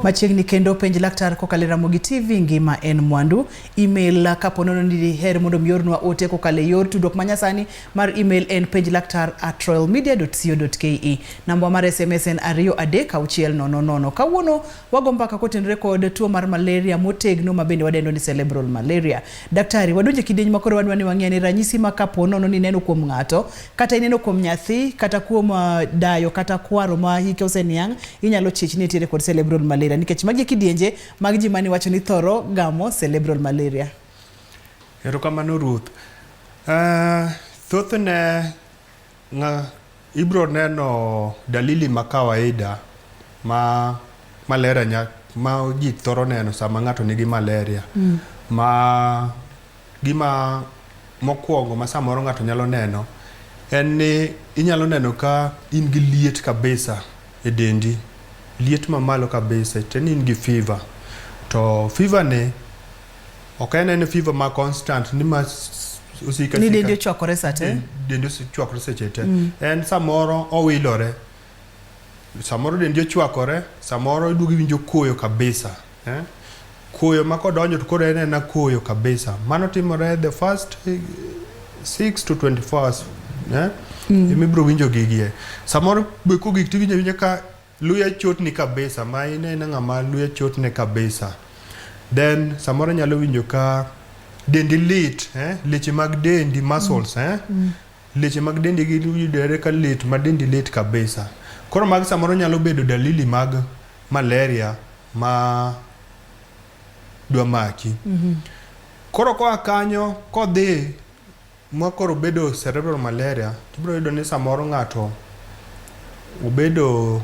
Machiegni kendo penj laktar kokalo e Ramogi TV ngima en mwandu. Email kapo nono ni diher mondo miornwa ote kokalo e yor tudruok manyasani mar email en penj laktar at royalmedia.co.ke. Namba mar SMS en ariyo adek auchiel nono nono. Kawuono wago mbaka kotenore kod tuo mar malaria motegno ma bende wadendo ni cerebral malaria. Daktari, wadonje kidieny ma koro wadwa ni wang'e ni ranyisi ma kapo nono ni neno kuom ng'ato kata ineno kuom nyathi kata kuom uh, dayo kata kwaro ma hike oseniang' inyalo chich ni itiere kod cerebral malaria nikech magi kidienje mag ji mani wacho ni thoro gamo cerebral malaria erokamano ruth uh, thothne nga, ibro neno dalili ma kawaida ma malaria nya, ma ji thoro neno sama ng'ato nigi malaria mm. ma Gima mokwongo ma samoro ng'ato nyalo neno en ni inyalo neno ka in gi liet kabisa e dendi, liet mamalo kabisa, te ni in gi fever. To fever ni ok en en fever ma constant ni ma s- osika Ni dendi sika. ochwakore sa te. Den- Dendi ochwakore seche te. En samoro owilore. Samoro dendi ochwakore, samoro iduogo iwinjo koyo kabisa. Eh? Koyo ma kodonjo to koro en ena koyo kabisa. Mano timore the first 6 eh, to 24 hours. Eh? Mm. Imi bro winjo gigie. Samoro be ko gik tiwinjo winjo ka luya chotni kabisa ma ine ina ng'ama luya chotne kabisa. Then samoro nyalo winjo ka dendi lit, eh? Leche mag dendi muscles, mm. eh? Mm. Leche mag dendi gi yudore ka lit ma dendi lit kabisa. Koro mag samoro nyalo bedo dalili mag malaria ma dwa maki. Mm -hmm. Koro koa kanyo kodhi ma koro bedo cerebral malaria tibiro yudo ni samoro ng'ato obedo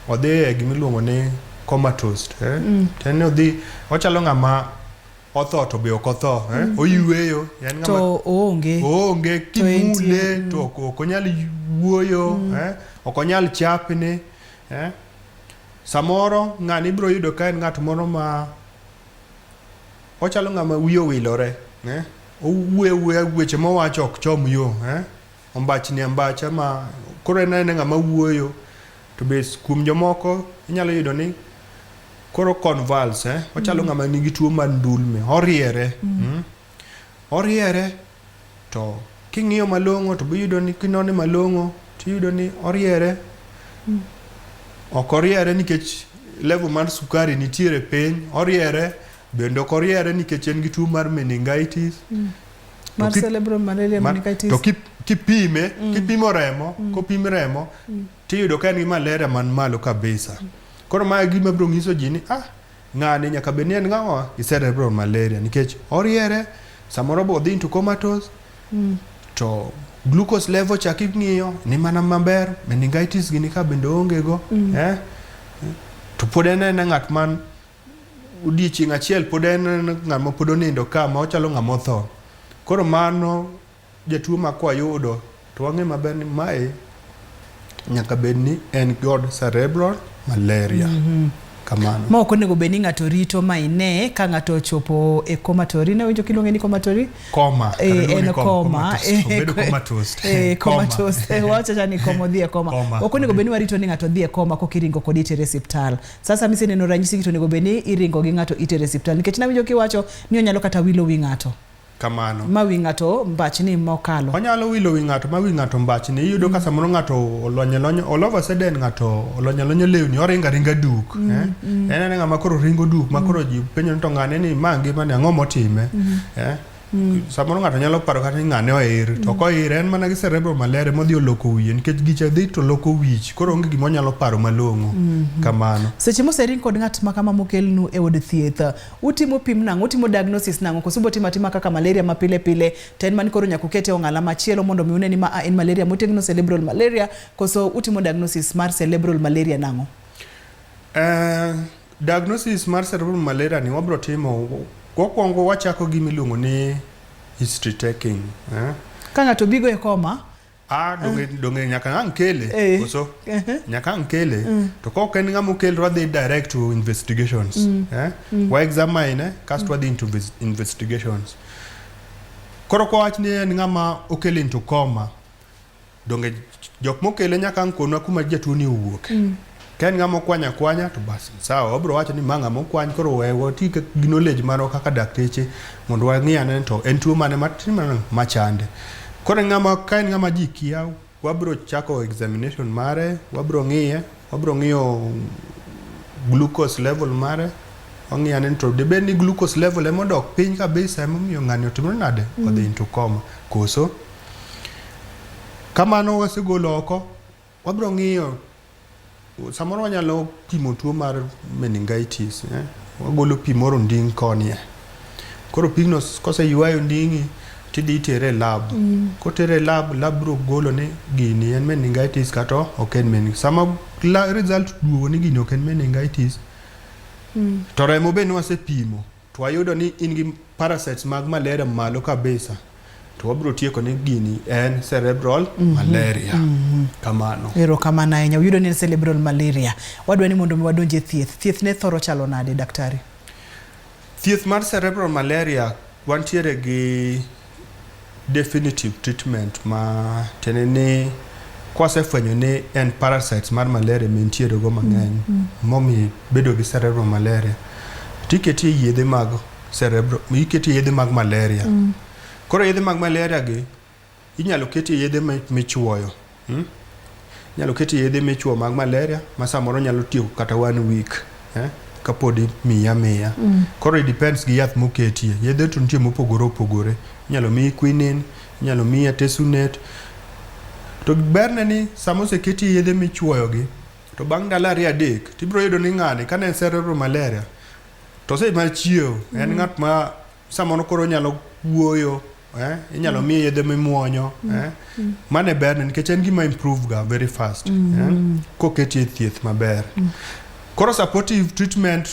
odhi e gima iluongo ni comatose eh? mm. to en odhi ochalo ng'ama otho to be ok otho eh? mm. oyueyo en ng'ama to oonge oonge kimule mm. to ok onyal wuoyo mm. eh? ok onyal chapni eh? Samoro ng'ani ibiro yudo ka en ng'at moro ma ochalo ng'ama wiye owilore, eh? owuoyo awuoya weche mowacho ok chom yo eh? ombachni ambacha ma koro en anena ng'ama wuoyo to be kuom jomoko inyalo yudo ni koro convulse eh? ochalo mm. ng'ama nigi tuo mar ndulme oriere mm. Mm? Oriere to king'iyo malong'o to biyudo ni kinone malong'o tiyudo ni oriere. Mm. Ok oriere nikech level mar sukari nitiere piny, oriere bende ok oriere nikech en gi tuo mar meningitis. Mm. Mar cerebral malaria meningitis. To kipime, mm. kipimo remo, mm. kopim remo, mm. tiyudo ka en gi malaria man malo kabisa. Mm. Koro ma gima biro nyiso ji ni ah, Ng'ani nyaka bed ni en ng'awa gi cerebral malaria nikech oriere samoro bo odhi into comatose mm. to glucose level chak ing'iyo ni mana maber meningitis gini ka bende onge go mm. eh? to pod en en ng'at man odiechieng' achiel pod en ng'at ma pod onindo ka ma ochalo ng'ama otho koro mano Jatuo ma kwayudo to wang'e maber ni mae nyaka bed ni en god cerebral malaria. Mm -hmm. Kamano. Ma ok onego bed ni ng'ato rito ma ine ka ng'ato ochopo e komatori. Ne winjo kiluonge ni komatori? Koma. E, eh, en koma. Obedo komatos. E, komatos. E, eh, wacha chani komo dhie koma. koma. Ok onego bed ni warito ni ng'ato dhie koma kok iringo kod itere siptal. Sasa mise neno ranyisi kito onego bed ni iringo gi ng'ato itere siptal. Nikech na winjo kiwacho ni onyalo kata wilo wi ng'ato. kamano ma wi ng'ato mbachni mokalo onyalo wilo wi ng'ato ma wi ng'ato mbachni iyudo mm. ka samoro ng'ato olonye lonye all of a sudden ng'ato olonye lonye lewni oringa ringa duk mm, eh? mm. en anenga ma koro ringo duk ma mm. koro ji penjo ni to ng'ane ni ma ngima ni ang'o motime mm. eh? Mm. samoro ng'ato nyalo paro kata ni ng'ane oir mm. to koir en mana gi cerebral malaria modhi oloko wiye nikech gicha dhi to loko wich koro onge gima onyalo paro malong'o mm -hmm. kamano seche mosering kod ng'at makama mokelnu e od thieth Utimo pim nang'o? Utimo diagnosis nang'o? Koso ubo timo atima kaka malaria ma pile pile to en mani koro nyaka ukete ong'ala machielo mondo mi une ni ma a en malaria motegno cerebral malaria koso utimo diagnosis mar cerebral malaria nang'o? Eh, diagnosis mar cerebral malaria ni wabro timo wakwongo wachako gi miluongo ni history taking eh? Ka ng'ato bigo e koma Ah, donge eh. donge nyaka ang kele eh. koso uh-huh. nyaka ang kele mm. to kok en ng'ama okel to wadhi direct to investigations mm. eh? mm. wa examine eh? kasto mm. wadhi into investigations koro kwa wach ni en ng'ama okel into coma donge jok mokele nyaka ang konwa kuma jatuo ni owuok mm. Ka en ng'ama okwany akwanya to bas sawa, wabiro wacho ni ma ng'ama okwany koro we wati gi knowledge marwa kaka dakteche mondo wang'i ane ni to en tuo mane matin mane machande. Koro en ng'ama ka en ng'ama ji kia, wabiro chako examination mare, wabiro ng'iye, wabiro ng'iyo glucose level mare, wang'iyo ane ni to dibed ni glucose level ema odok piny kabisa emomiyo ng'ani otimore nade odhi into coma koso. Kamano wasegolo oko, Wabiro ng'iyo samoro wanyalo pimo tuo mar meningitis eh? wagolo pi moro nding koni eh? koro pigno koseywayo nding'i tidhi itere e lab mm. kotere e lab lab biro golo ni gini en meningitis kata ok en meningitis sama result duogo ni gini ok en meningitis mm. to remo be nwasepimo to wayudo ni in gi parasites mag malaria malo kabisa to wabiro tieko ni gini en cerebral mm -hmm. malaria mm -hmm. kamano ero kamano ahinya uyudo ni en cerebral malaria wadwa ni mondo mi wadonje thieth thieth ne thoro chalo nade daktari thieth mar cerebral malaria wantiere gi Definitive treatment ma tiende ni kwasefwenyo ni en parasites mar malaria mentiere go mang'eny mm, mm. momi bedo gi cerebral malaria tiketie yedhe mag cerebral iketie yedhe mag malaria mm. koro yedhe mag malaria gi inyalo ketie yedhe michuoyo Hmm? Nyalo keti yedhe michuo mag malaria ma samoro nyalo tieko kata one week. Eh? kapodi miya miya mm. koro depends gi yath moketie yedhe to nitie mopogore opogore inyalo miyi quinin inyalo miyi atesunet to berne ni sama oseketie yedhe michuoyogi to bang' ndalo ariyo adek to ibiro yudo ni ng'ani kane en cerebral malaria to ose mar chiewo mm. en ng'at ma samoro koro nyalo wuoyo eh? inyalo mm. miye yedhe mimuonyo mm. eh? mm. mano e berne nikech en gima improve ga very fast mm -hmm. eh? Mm-hmm. koketi e thieth maber mm. koro supportive treatment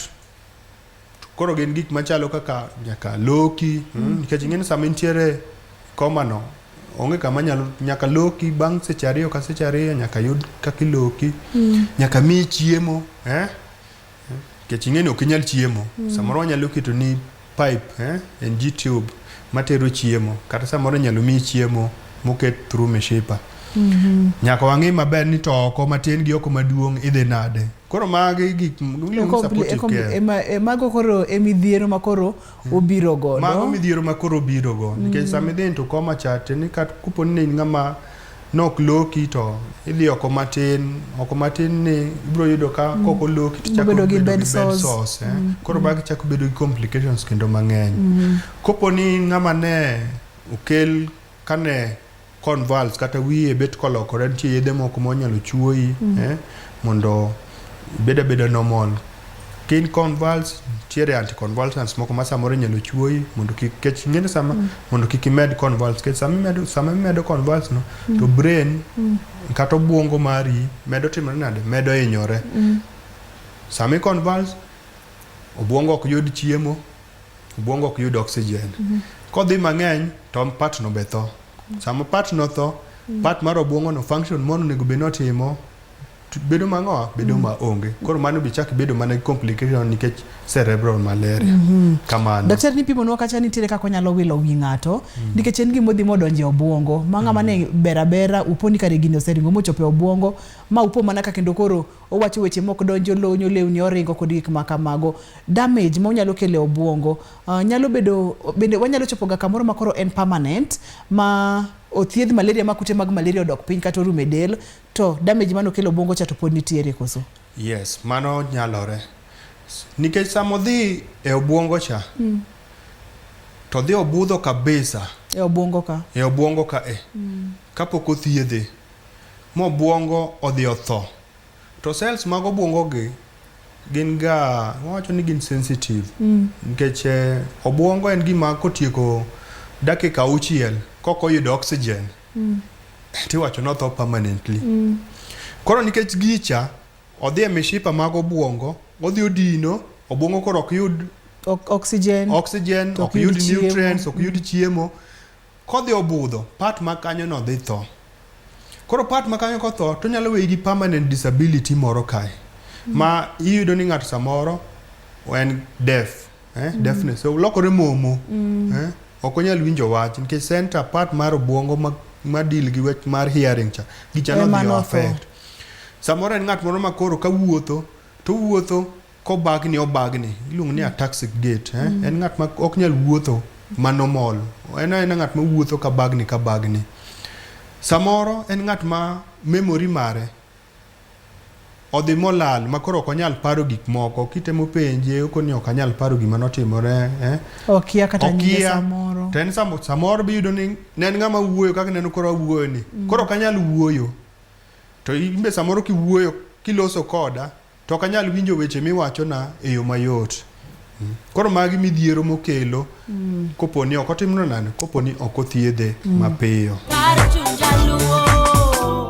koro gin gik machalo kaka nyaka loki mm. mm. nikech ing'eni sama intiere komano onge kama nyalo nyaka loki bang' seche ariyo ka seche ariyo nyaka yud kaka iloki mm. nyaka miyi chiemo eh? Kech ing'eni ok inyal chiemo. Mm. Samoro wanyalo keto ni pipe eh, en G tube matero chiemo kata samoro nyalo miyi chiemo moket through mishipa. Mm -hmm. Nyaka wang'e maber ni to oko matin gi oko maduong' idhi nade. Koro magi gik mago koro emidhiero makoro obiro godo. Mago midhiero ma koro obiro go. Nikech sama idhi into koma chat ni kat kupo ni in ng'ama nok loki to idhi oko matin, oko matin ni ibiro yudo ka kok oloki to chako Ibobedo gi bedo bed gi bed sores. sores. eh. Koro bag chako bedo gi complications kendo mang'eny. Kopo ni ng'ama ne okel kane convulse kata wiye bet kolokore nitie yedhe moko ma onyalo chuoyi mm. eh, mondo ibed abeda normal kin convulse nitiere anticonvulsants moko ma samoro inyalo chuoyi mondo kik kech ing'eni sama mm. mondo kik imed convulse kech sama imedo sama imedo convulse no mm. to brain mm. kata obwongo mari medo timore nade medo hinyore mm. sama i convulse obwongo ok yud chiemo Obwongo ok yud oxygen. Mhm. Kodhi mang'eny to part no be tho. Sama part no tho, mhm. part mar obwongo no function mono onego bed notimo bedo mang'o bedo mhm. ma onge koro mano bi chak bedo mana complication nikech cerebral malaria mm -hmm. kamano daktari nipimo nwa kacha nitiere kaka onyalo wilo wi ng'ato mm -hmm. nikech en gima odhi modonje obwongo ma ng'ama mm -hmm. ne mhm. berabera uponi kare gini oseringo mochopo e obwongo ma upo mana ka kendo koro Owacho weche mok donjo lonyo lewni oringo kod gik ma kamago. Damage ma onyalo kelo e obwongo uh, nyalo bedo bende wanyalo chopo ga kamoro ma koro en permanent ma othiedh malaria ma kute mag malaria odok piny kata orume del to damage mano kelo obwongo cha to pod nitiere koso. Yes, mano nyalore. Nikech samo dhi e obwongo cha mm. to dhi obudho kabisa e obwongo ka e obwongo ka e mm. kapok othiedhe mobwongo odhi otho. To cells mag obwongo gi gin ga wawacho ni gin sensitive mm. nikech eh, obwongo en gima kotieko dakika auchiel kok oyudo oxygen mm. tiwacho notho permanently mm. koro nikech gicha odhi e mishipa mag obwongo odhi odino obwongo koro ok yud oxygen oxygen ok yud nutrients ok yud chiemo Kodhi obudho, part ma kanyo no dhi tho. Koro part ma kanyo kotho, to nyalo weyi gi permanent disability moro kae. Ma iyudo ni ng'ato samoro en deaf, eh, mm. deafness. So lokore momo. Mm. Eh, ok onyal winjo wach nikech center part mar obwongo ma, ma deal gi wach mar hearing cha gichano eh, dhi affect. Samoro en ng'at moro ma koro kawuotho to wuotho Kobagni obagni, iluongo ni ataxic gait. Eh? Mm. En ng'at ma ok nyal wuotho ma normal. En en ng'at ma wuotho ka bagni ka bagni. Samoro en ng'at ma memory mare odhi molal ma koro ok onyal paro gik moko kitemo penje okoni ok anyal paro gima notimore eh? okia kata nyinge samoro to en samoro, samoro biyudo ni ne en ng'ama wuoyo kaka neno koro awuoyo ni mm. koro ok anyal wuoyo to imbe samoro kiwuoyo kiloso koda To ok anyal winjo weche miwachona e yo mayot. Mm. Koro magi midhiero mokelo mm. kopo ni ok otimno nani, kopo ni ok othiedhe mm. mapiyo.